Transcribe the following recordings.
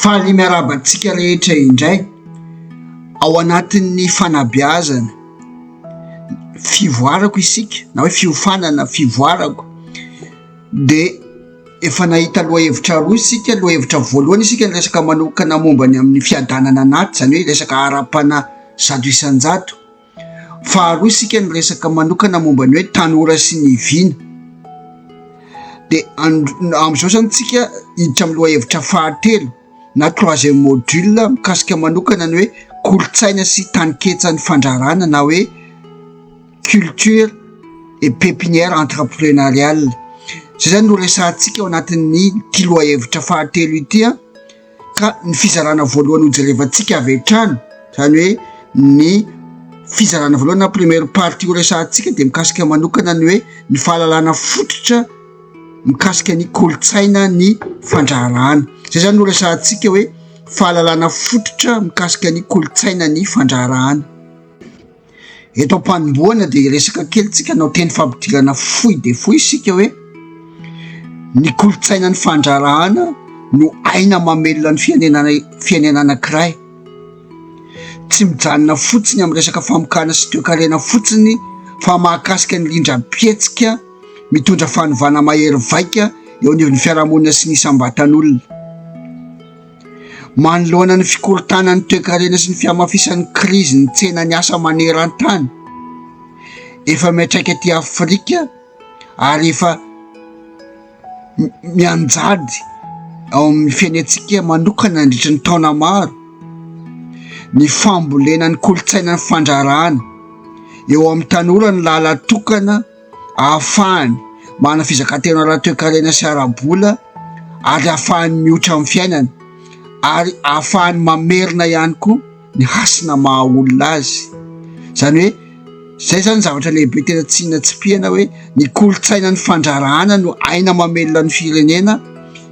Faly miarahaba antsika rehetra indray ao anatin'ny fanabeazana. Fivoarako isika na hoe fiofanana fivoarako dia efa nahita lohahevitra roa isika. Lohahevitra voalohany isika niresaka manokana momba ny amin'ny fiadanana anaty, izany hoe resaka ara-panahy zato isan-jato. Faharoa isika niresaka manokana momba ny hoe tanora sy ny vina. Dia amin'izao izany isika hiditra amin'ny lohahevitra fahatelo na troisième module mikasika manokana ny hoe kolontsaina sy taninketsan'ny fandraharana na hoe culture et pépinière entrepreneuriale. Izay izany no resahantsika ao anatin'ny ity lohahevitra fahatelo ity. Ka ny fizarana voalohany hojerevantsika avy hatrany, izany hoe ny fizarana voalohany na première partie horesahantsika dia mikasika manokana ny hoe ny fahalalana fototra mikasika ny kolontsaina ny fandraharahana. Izay izany no horesahantsika hoe fahalalana fototra mikasika ny kolontsaina ny fandraharahana. Eto am-panombohana dia hiresaka kely tsika hanao teny fampidirana fohy dia fohy isika hoe ny kolontsainan'ny fandraharahana no aina mamelona ny fiainana fiainana anankiray. Tsy mijanona fotsiny amin'ny resaka famokana sy toekarena fotsiny fa mahakasika ny rindram-pihetsika mitondra fanovana mahery vaika eo anivon'ny fiarahamonina sy ny isam-batan'olona. Manoloana ny fikorontanan'ny toekarena sy ny fihamafisan'ny krizin'ny tsenan'ny asa maneran-tany, efa miantraika aty Afrika ary efa mianjady ao amin'ny fiainantsika manokana nandritry ny taona maro ny fambolena ny kolontsaina ny fandraràna eo amin'ny tanora ny lalatokana. ahafahany manana fizakan-tena ara-toekarena sy ara-bola ary ahafahany mioitra amin'ny fiainany ary ahafahany mamerina ihany koa ny hasina maha olona azy. Izany hoe izay izany ny zavatra lehibe tena tsy natsipihana hoe ny kolontsainan'ny fandraharahàna no aina mamelona ny firenena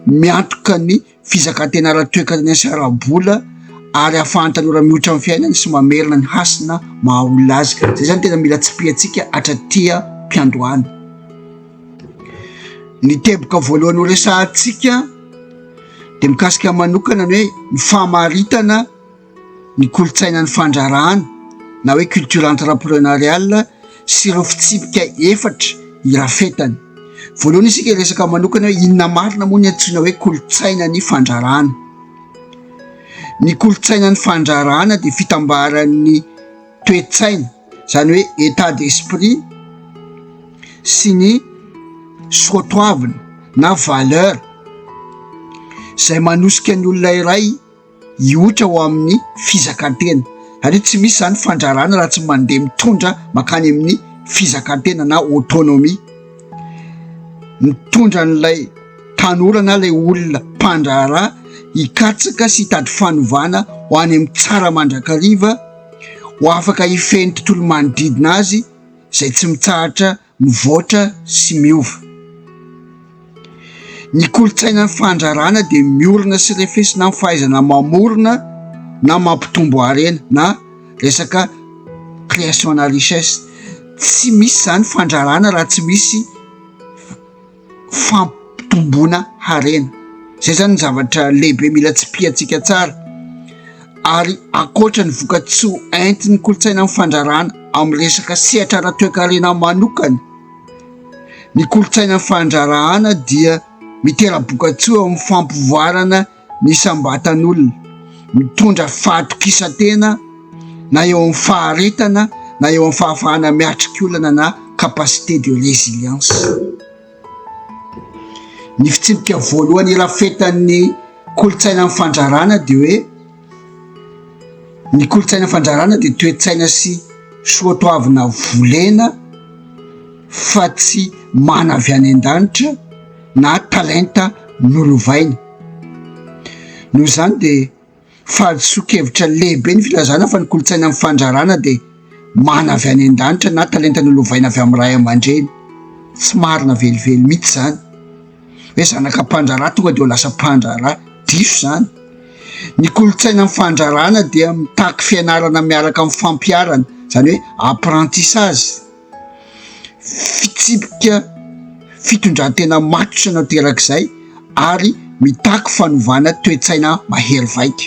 miantoka ny. fizakantena ara-toekarena sy ara-bola ary ahafahan'ny tanora mihoitra amin'ny fiainany sy mamerina ny hasina maha olona azy. Izay izany tena mila tsipihantsika hatraty am-piandohana. Ny teboka voalohany horesahantsika dia mikasika manokana ny hoe ny famaritana ny kolontsainan'ny fandraharahana na hoe culture entrepreneuriale sy ireo fitsipika efatra irafetany. Voalohany isika hiresaka manokana hoe inona marina moa ny antsoina hoe kolontsainan'ny fandraharahana. Ny kolontsainan'ny fandraharahana dia fitambaran'ny toe-tsaina, izany hoe état d'esprit sy ny soa toavina na valeur izay manosika ny olona iray. hihoitra ho amin'ny fizakan-tena. Satria tsy misy izany fandrarana raha tsy mandeha mitondra mankany amin'ny fizakan-tena na autonomie. Mitondra an'ilay tanora na ilay olona mpandraharaha hikatsaka sy hitady fanovana ho any amin'ny tsara mandrakariva, ho afaka hifehy ny tontolo manodidina azy izay tsy mitsahatra mivoatra sy miova. Ny kolontsainan'ny fandraràna dia miorina sy refesina amin'ny fahaizana mamorona na mampitombo harena na resaka création na richesse. Tsy misy izany fandraràna raha tsy misy. fampitomboana harena. Zay zany ny zavatra lehibe mila tsipihantsika tsara ary ankoatra ny vokatsoa entin'ny kolontsaina amin'ny fandrarana amin'ny resaka sehatra ara-toekarena manokana, ny kolontsaina fandrarahana dia mitera-bokatsoa amin'ny fampivoarana. Isam-batan'olona mitondra fahatokisan-tena na eo amin'ny faharetana na eo amin'ny fahafahana miatrika olana na capacité de résilience. Ny fitsipika voalohany irafetan'ny kolontsainan'ny fandrarana dia hoe ny kolontsainan'ny fandrarana dia toe-tsaina sy soatoavina volena fa tsy mana avy any an-danitra. na talenta nolovainy. Noho izany dia fahadisoan-kevitra lehibe ny filazana fa ny kolontsaina amin'ny fandrarana dia mana avy any an-danitra na talenta nolovaina avy amin'ny ray aman-dreny. Tsy marina velively mihitsy izany hoe zanaka mpandraharaha tonga dia ho lasa mpandraharaha. Diso izany. Ny kolontsaina amin'ny fandrarana dia mitaky fianarana miaraka amin'ny fampiharana, izany hoe apprentissage. Fitsipika fitondran-tena matotra no aterak'izay ary mitaky fanovana toe-tsaina mahery vaika.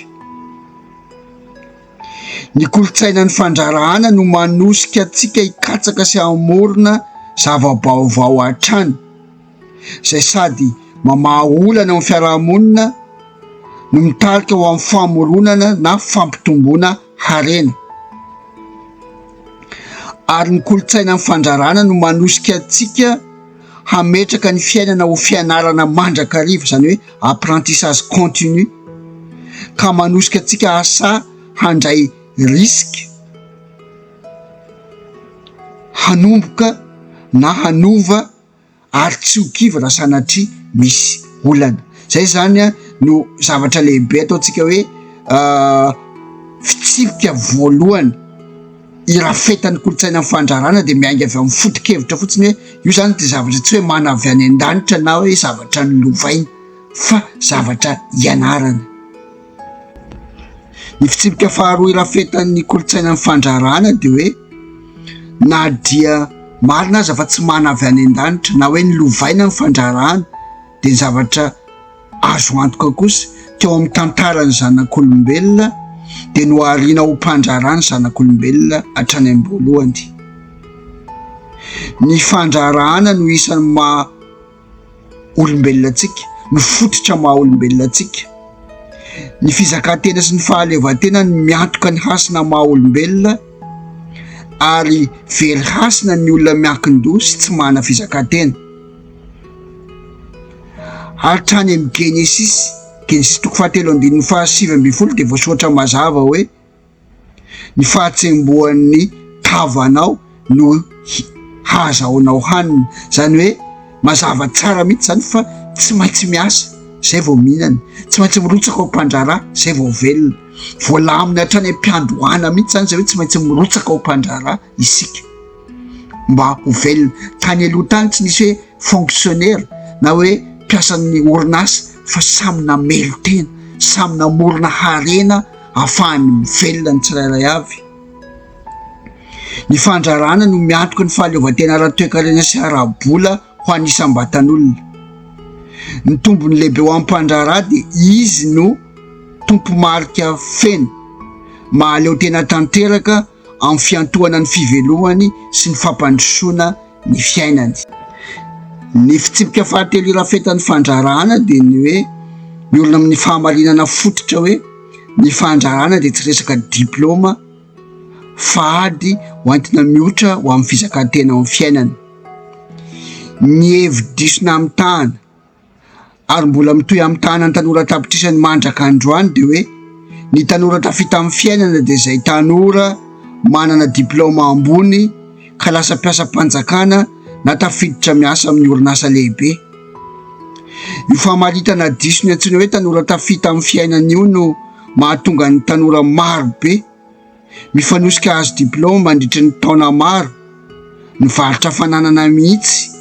Ny kolontsainan'ny fandraharahana no manosika antsika hikatsaka sy hamorona zava-baovao hatrany. izay sady mamaha olana eo amin'ny fiarahamonina no mitarika ho amin'ny famoronana na fampitomboana harena, ary ny kolontsainan'ny fandrarana no manosika antsika hametraka ny fiainana ho fianarana mandrakariva, izany hoe apprentissage continu, ka manosika antsika asa handray risque, hanomboka na hanova. ary tsy ho kivy raha sanatria misy olana. Izay izany no zavatra lehibe ataontsika hoe fitsipika voalohany irafetan'ny kolontsainan'ny fandrarana dia miainga avy amin'ny foto-kevitra fotsiny hoe io izany dia zavatra tsy hoe mana avy any an-danitra na hoe zavatra nolovaina fa zavatra ianarana. Ny fitsipika faharoa irafetan'ny kolontsainan'ny fandraharahana dia hoe na dia marina aza fa tsy mana avy any an-danitra na hoe nilovaina ny fandraharahana dia zavatra azo antoka kosa teo amin'ny tantaran'ny zanak'olombelona dia nohariana ho mpandraharaha ny zanak'olombelona hatrany am-boalohany. Ny fandraharahana no isan'ny maha. olombelona antsika, ny fototra maha olombelona antsika. Ny fizakan-tena sy ny fahaleovan-tena no miantoka ny hasina maha olombelona ary very hasina ny olona miankin-doha sy tsy manana fizakan-tena. Hatrany amin'ny Genesisy, Genesisy toko fahatelo andininy fahasivy ambin'ny folo dia voasoratra mazava hoe. Ny fahatsembohan'ny tavanao no hahazahoanao hanina. Izany hoe mazava tsara mihitsy izany fa tsy maintsy miasa izay vao mihinana, tsy maintsy mirotsaka ao am-pandraharaha izay vao velona. Voalamina hatrany am-piandohana mihitsy izany izay hoe tsy maintsy mirotsaka ao am-pandraharaha. isika mba ho velona. Tany aloha tany tsy nisy hoe fonctionnaire na hoe mpiasan'ny orinasa fa samy namely tena, samy namorona harena ahafahany mivelona ny tsirairay avy. Ny fandrarana no miantoka ny fahaleovantena ara-toekarena sy ara-bola ho an'ny isam-batan'olona. Ny tombony lehibe ho an'ny mpandraharaha dia izy no tompo-marika feno, mahaleo tena tanteraka, amin'ny fiantohana ny fivelomany sy ny fampandrosoana ny fiainany. Ny fitsipika fahatelo irafetan'ny fandraharahana dia ny hoe miorina amin'ny fahamarinana fototra hoe ny fandraharahana dia tsy resaka diplaoma fa ady ho antina mihotra ho amin'ny fizakan-tena ao amin'ny fiainana. Ny hevi-diso namitahana. ary mbola mitohy amin'ny tahanan'ny tanora an-tapitrisany mandraka androany dia hoe ny tanora tafita amin'ny fiainana dia izay tanora manana diplaoma ambony ka lasa mpiasam-panjakana na tafiditra miasa amin'ny orinasa lehibe. Io famaritana diso ny antsoina hoe tanora tafita amin'ny fiainana io no mahatonga ny tanora marobe Mifanosika hahazo diplaoma mandritry ny taona maro ny varotra fananana mihitsy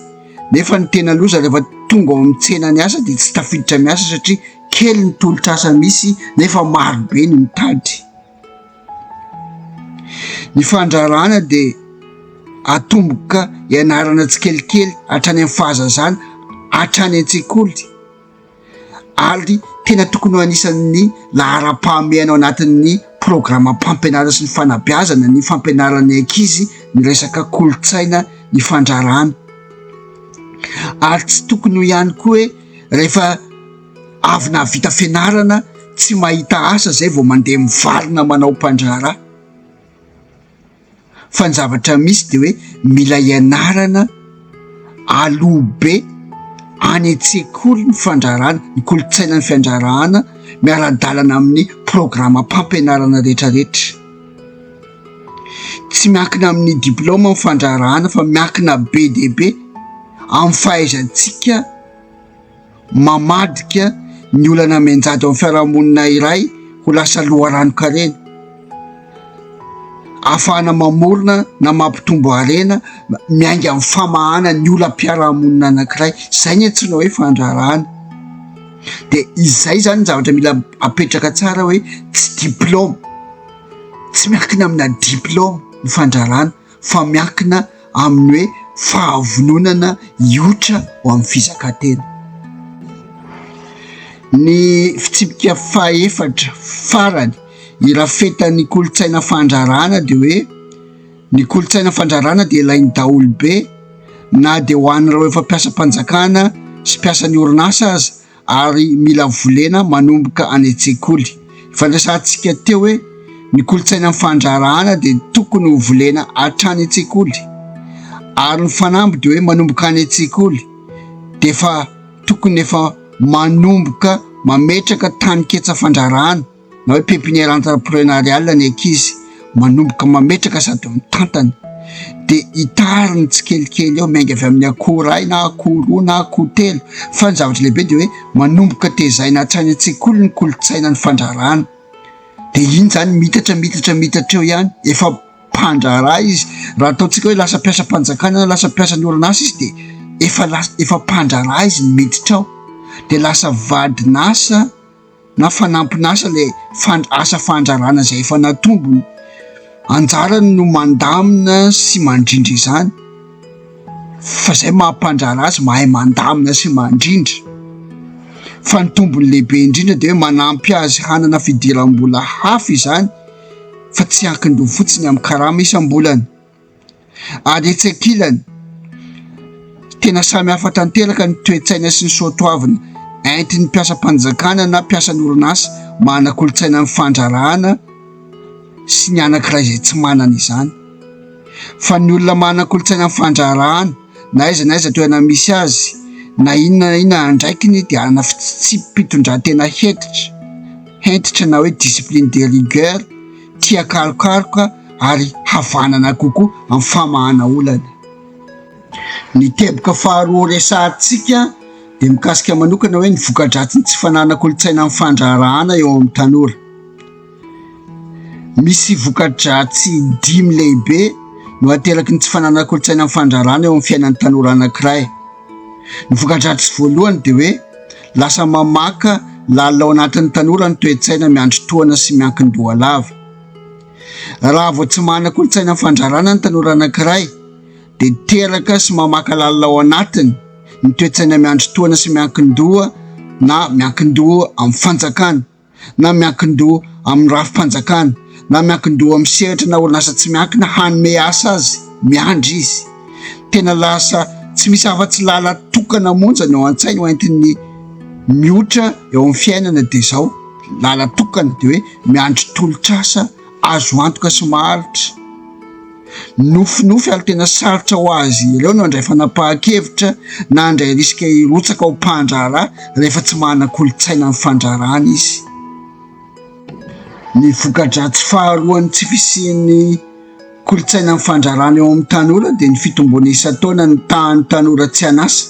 nefa ny tena loza rehefa tonga ao amin'ny tsena ny asa dia tsy tafiditra miasa satria kely ny tolotr'asa misy nefa marobe ny mitady. Ny fandraharahana dia atomboka ianarana tsikelikely hatrany amin'ny fahazazana hatrany an-tsekoly. ary tena tokony ho anisan'ny laharam-pahamehana ao anatin'ny programam-pampianarana sy ny fanabeazana ny fampianaran'ny ankizy ny resaka kolontsaina ny fandrarana ary tsy tokony ho ihany koa hoe rehefa avy nahavita fianarana tsy mahita asa izay vao mandeha mivarina manao mpandraharaha fa ny zavatra misy dia hoe mila ianarana aloha be any an-tsekoly ny fandraharahana, ny kolontsaina ny fiandraharahana miara-dalana amin'ny programam-pampianarana rehetra rehetra. Tsy miankina amin'ny diplaoma ny fandraharahana fa miankina be dia be amin'ny fahaizantsika. mamadika ny olana mianjady ao amin'ny fiarahamonina iray ho lasa loharanon-karena, ahafahana mamorona na mampitombo harena miainga amin'ny famahana ny olam-piarahamonina anankiray, izay no antsoina hoe fandraharahana, dia izay izany no zavatra mila apetraka tsara hoe tsy diplaoma, tsy miankina amina diplaoma ny fandraharahana. fa miankina amin'ny hoe fahavononana hioitra ho amin'ny fizakan-tena. Ny fitsipika fahefatra farany irafetan'ny kolontsaina fandrarana dia hoe ny kolontsaina fandrarana dia ilain'ny daholobe na dia ho an'ireo efa mpiasam-panjakana sy mpiasan'ny orinasa aza, ary mila volena manomboka any an-tsekoly. Ifandrasantsika teo hoe ny kolontsainan'ny fandraharahana dia tokony ho volena hatrany an-tsekoly, ary ny fanamby dia hoe manomboka any an-tsekoly dia efa tokony efa manomboka mametraka taninketsa fandraharahana. na hoe pépinière entrepreneuriale ny ankizy manomboka mametraka sady mitantana dia hitariny tsikelikely eo miainga avy amin'ny akoho iray na akoho roa na akoho telo fa ny zavatra lehibe dia hoe manomboka tezaina hatrany an-tsekoly ny kolontsaina ny fandrarana dia iny izany mitatra mitatra mitatra eo ihany efa mpandraharaha izy raha ataontsika hoe lasa mpiasam-panjakana na lasa mpiasan'ny orinasa izy dia efa lasa efa mpandraharaha izy ny miditra ao dia lasa vadinasa na fanampin'asa ilay asa fandrarana izay efa natombony. Anjarany no mandamina sy mandrindra izany fa izay maha mpandraharaha azy mahay mandamina sy mandrindra fa ny tombony lehibe indrindra dia hoe manampy azy hanana fidiram-bola hafa izany fa tsy ankin-doha fotsiny amin'ny karama isam-bolana. Ary etsy ankilany, tena samy hafa tanteraka ny toe-tsaina sy ny soatoavina entin'ny mpiasam-panjakana na mpiasan'ny orinasa manana kolontsaina ny fandraharahana sy ny anankiray izay tsy manana izany. Fa ny olona manana kolontsaina ny fandraharahana na aiza na aiza toerana misy azy, na inona na inona andraikiny dia hanana fitsipi-pitondrantena hentitra, hentitra na hoe discipline de rigueur. tsy akarokaroka ary havanana kokoa amin'ny famahana olana. Ny teboka faharoa resahantsika dia mikasika manokana hoe ny voka-dratsin'ny tsy fananan-kolontsaina amin'ny fandraharahana eo amin'ny tanora. Misy voka-dratsy dimy lehibe no ateraky ny tsy fananan-kolontsaina amin'ny fandraharahana eo amin'ny fiainan'ny tanora anankiray. Ny voka-dratsy voalohany dia hoe. Lasa mamaka lalina ao anatin'ny tanora ny toe-tsaina miandry tohana sy miankin-doha lava. Raha vao tsy manana kolontsaina fandrarana ny tanora anankiray, dia teraka sy mamaka lalina ao anatiny ny toe-tsaina miandry tohana sy miankin-doha na miankin-doha amin'ny fanjakana. na miankin-doha amin'ny rafi-panjakana na miankin-doha amin'ny sehatra na orinasa tsy miankina hanome asa azy, miandry izy. Tena lasa tsy misy afa-tsy lalan-tokana monja ny ao an-tsainy ho entin'ny miotra eo amin'ny fiainana dia izao, lalan-tokana dia hoe miandry tolotr'asa azo antoka sy maharitra. nofinofy ary tena sarotra ho azy ireo no handray fanapahan-kevitra na handray risika hirotsaka ho mpandraharaha rehefa tsy manana kolontsaina ny fandraharahana izy. Ny voka-dratsy faharoan'ny tsy fisian'ny kolontsainan'ny fandraharahana eo amin'ny tanora dia ny fitomboana isan-taona ny tahan'ny tanora tsy an'asa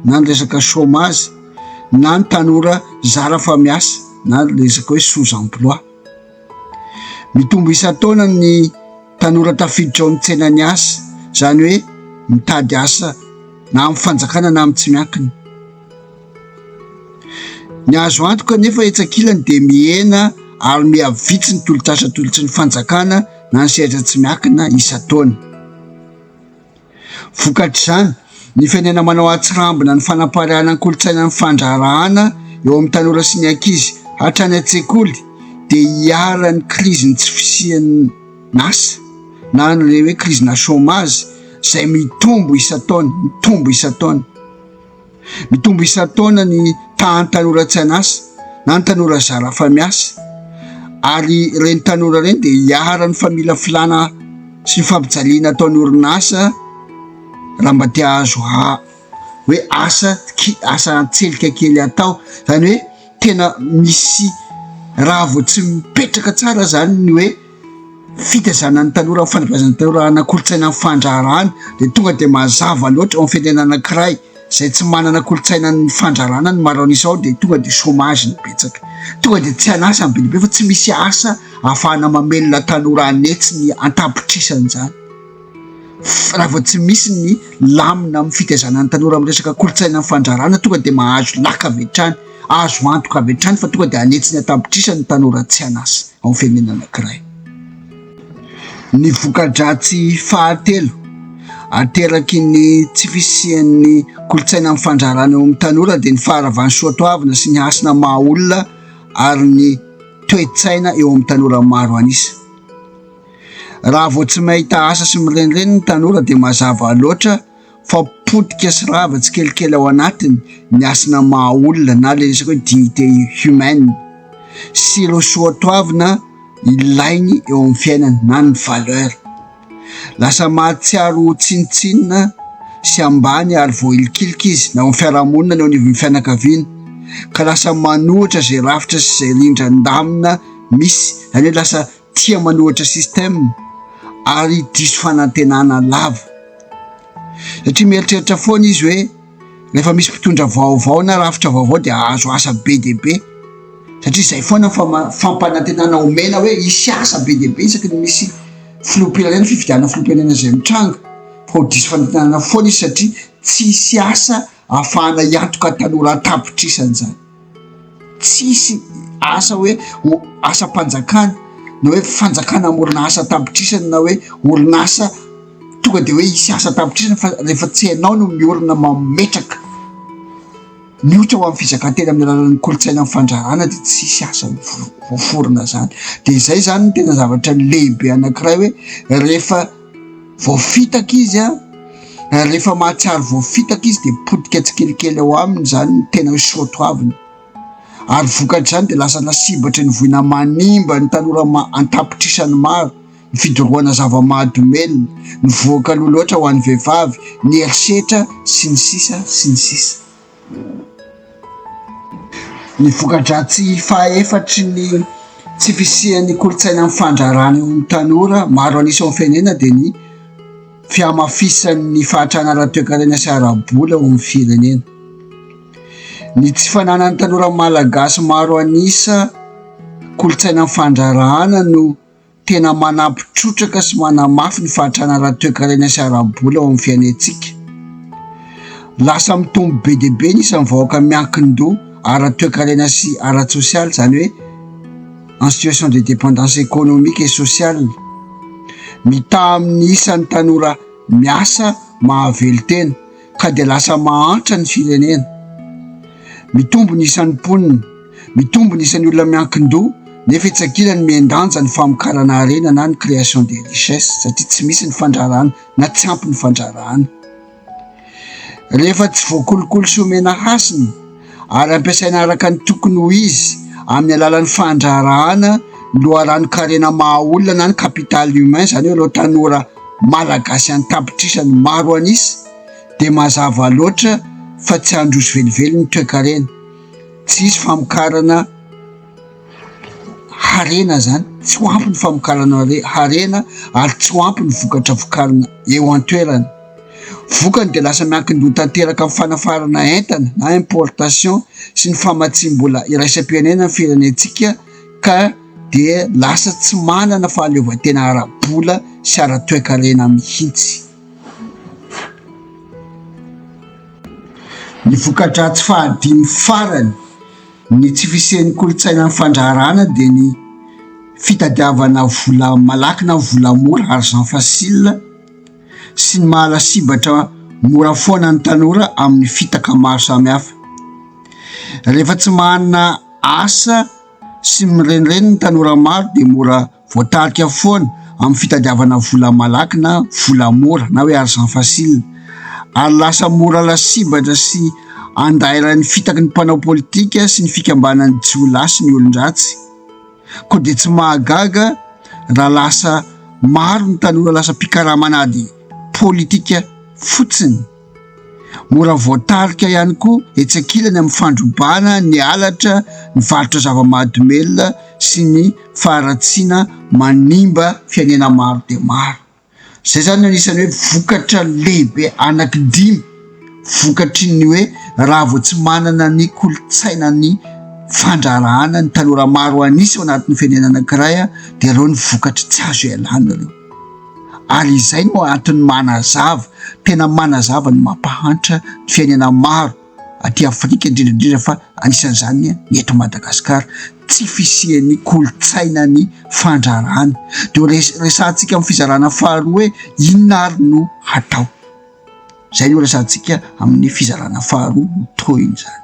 na ny resaka chômage na ny tanora zara fa miasa na ny resaka hoe sous-emploi. Mitombo isan-taona ny tanora tafiditra ao amin'ny tsenan'ny asa, izany hoe mitady asa na amin'ny fanjakana na amin'ny tsy miankina. Ny azo antoka anefa etsy ankilany dia mihena ary miha vitsy ny tolotr'asa atolotry ny fanjakana na ny sehatra tsy miankina isan-taona. Vokatr'izany, ny firenena manao an-tsirambina ny fanaparirahana ny kolontsainan'ny fandraharahàna eo amin'ny tanora sy ny ankizy hatrany an-tsekoly dia iharan'ny krizin'ny tsy fisian'asa na ilay hoe krizinà chômage izay mitombo isan-taona, mitombo isan-taona. Mitombo isan-taona ny tahan'ny tanora tsy an'asa na ny tanora zara raha fa miasa ary ireny tanora ireny dia iharan'ny famila filana sy ny fampijaliana ataon'ny orinasa raha mba te hahazo ha- hoe asa ki- asa an-tselika kely atao izany hoe tena misy raha vao tsy mipetraka tsara izany ny hoe fitaizana ny tanora amin'ny fanabeazana ny tanora hanana kolontsaina ny fandraharahana dia tonga dia mazava loatra eo amin'ny firenena anankiray izay tsy manana kolontsaina ny fandraharahana ny maro an'isa ao dia tonga dia chômage no betsaka, tonga dia tsy an'asa ny be dia be fa tsy misy asa ahafahana mamelona tanora hanetsy ny an-tapitrisany izany. raha vao tsy misy ny lamina amin'ny fitaizana ny tanora amin'ny resaka kolontsaina ny fandrarana tonga dia mahazo laka avy hatrany, azo antoka avy hatrany fa tonga dia hanetsy ny an-tapitrisa ny tanora tsy an'asa ao amin'ny firenena anankiray. Ny voka-dratsy fahatelo ateraky ny tsy fisian'ny kolontsaina amin'ny fandrarana eo amin'ny tanora dia ny faharavan'ny soatoavina sy ny hasina maha olona ary ny toe-tsaina eo amin'ny tanora maro an'isa. Raha vao tsy mahita asa sy mirenireny ny tanora dia mazava loatra fa potika sy rava tsikelikely ao anatiny ny hasina maha olona na ilay resaka hoe dignité humaine sy ireo soatoavina ilainy eo amin'ny fiainana na ny valeur. Lasa mahatsiaro ho tsinontsinona sy ambany ary voailikilika izy na eo amin'ny fiarahamonina na eo anivon'ny fianakaviana ka lasa manohitra izay rafitra sy izay rindran-damina misy, izany hoe lasa Tia manohitra système ary diso fanantenana lava. Satria mieritreritra foana izy hoe rehefa misy mpitondra vaovao na rafitra vaovao dia hahazo asa be dia be. Satria izay foana ny fampanantenana omena hoe hisy asa be dia be isaky ny misy filoham-pirenena, fifidianana filoham-pirenena izay mitranga. Fa ho diso fanantenana foana izy satria tsy hisy asa ahafahana hiantoka tanora an-tapitrisany izany. Tsisy asa hoe asam-panjakana na hoe fanjakana hamorona asa an-tapitrisany na hoe orinasa tonga dia hoe hisy asa an-tapitrisany fa rehefa tsy hainao no miorina mametraka ny ohatra ho an'ny fizakan-tena amin'ny alalan'ny kolontsaina ny fandraharana dia tsisy asa voaforona izany dia izay izany no tena zavatra lehibe anankiray hoe rehefa Voafitaka izy a, ary rehefa mahatsiaro voafitaka izy dia potika tsikelikely ao aminy izany ny tena soatoaviny, ary vokatr'izany dia lasa lasibatry ny voina manimba ny tanora an-tapitrisany maro, ny fidorohana zava-mahadomelina, ny vohoka loha loatra ho an'ny vehivavy, ny herisetra, sy ny sisa sy ny sisa. Ny voka-dratsy fahaefatry ny tsy fisian'ny kolontsaina mifandraharaha eo amin'ny tanora maro an'isa ao amin'ny firenena dia ny fihamafisan'ny fahatrana ara-toekarena sy ara-bola ao amin'ny firenena. Ny tsy fananan'ny tanora malagasy maro an'isa kolontsaina mifandraharahana no. Tena manampy trotraka sy manamafy ny fahatrana ara-toekarena sy ara-bola ao amin'ny fiainantsika. Lasa mitombo be dia be ny isan'ny vahoaka miankin-doha ara-toekarena sy ara-tsosialy, izany hoe en situation de dépendance économique et sociale. Mitaha amin'ny isan'ny tanora miasa mahavelo-tena. ka dia lasa mahantra ny firenena, mitombo ny isan'ny mponina, mitombo ny isan'ny olona miankin-doha nefa etsy ankilany mihen-danja ny famokarana harena na ny création des richesses satria tsy misy ny fandraharahana na tsy ampy ny fandraharahana rehefa tsy voakolokolo sy omena hasina. ary ampiasaina araka ny tokony ho izy amin'ny alalan'ny fandraharahana ny loharanon-karena maha-olona na ny capital humain, izany hoe ireo tanora Malagasy an-tapitrisany maro an'isa, dia mazava loatra fa tsy handroso velively ny toekarena. Tsy hisy famokarana harena izany, tsy ho ampy ny famokarana harena ary tsy ho ampy ny vokatra vokarina eo an-toerana. Vokany dia lasa miankin-doha tanteraka amin'ny fanafarana entana na importation sy ny famatsiam-bola iraisam-pirenena ny firenentsika ka dia lasa tsy manana fahaleovantena ara-bola sy ara-toekarena mihitsy. Ny voka-dratsy fahadimy farany ny tsy fisian'ny kolontsainan'ny fandraharahana dia ny fitadiavana vola malaky na vola mora, argent facile, sy ny maha lasibatra mora foana ny tanora amin'ny fitaka maro samihafa. Rehefa tsy manana asa sy mirenireny ny tanora maro dia mora voatarika foana amin'ny fitadiavana vola malaky na vola mora na hoe argent facile ary lasa mora lasibatra sy andairan'ny fitaky ny mpanao politika sy ny fikambanan'ny jiolahy sy ny olon-dratsy. Koa dia tsy mahagaga raha lasa maro ny tanora lasa mpikaraman'ady politika fotsiny. Mora voatarika ihany koa etsy ankilany amin'ny fandrobana ny halatra, ny varotra zava-mahadomelina sy ny faharatsiana manimba fiainana maro dia maro. Zay zany anisan'ny hoe vokatra lehibe anaky dimy vokatry ny hoe raha vao tsy manana ny kolontsaina ny fandrarahana ny tanora maro anisa ao anatin'ny firenena anankiray a dia ireo ny vokatry tsy azo ialana ireo ary izay no antony manazava tena manazava ny mampahantra ny fiainana maro aty Afrika indrindra indrindra fa anisan'izany ny eto Madagasikara, tsy fisian'ny kolontsainan'ny fandraharahana. Dia resahantsika amin'ny fizarana faharoa hoe inona ary no hatao? Izay no resahantsika amin'ny fizarana faharoa, ny tohiny izany.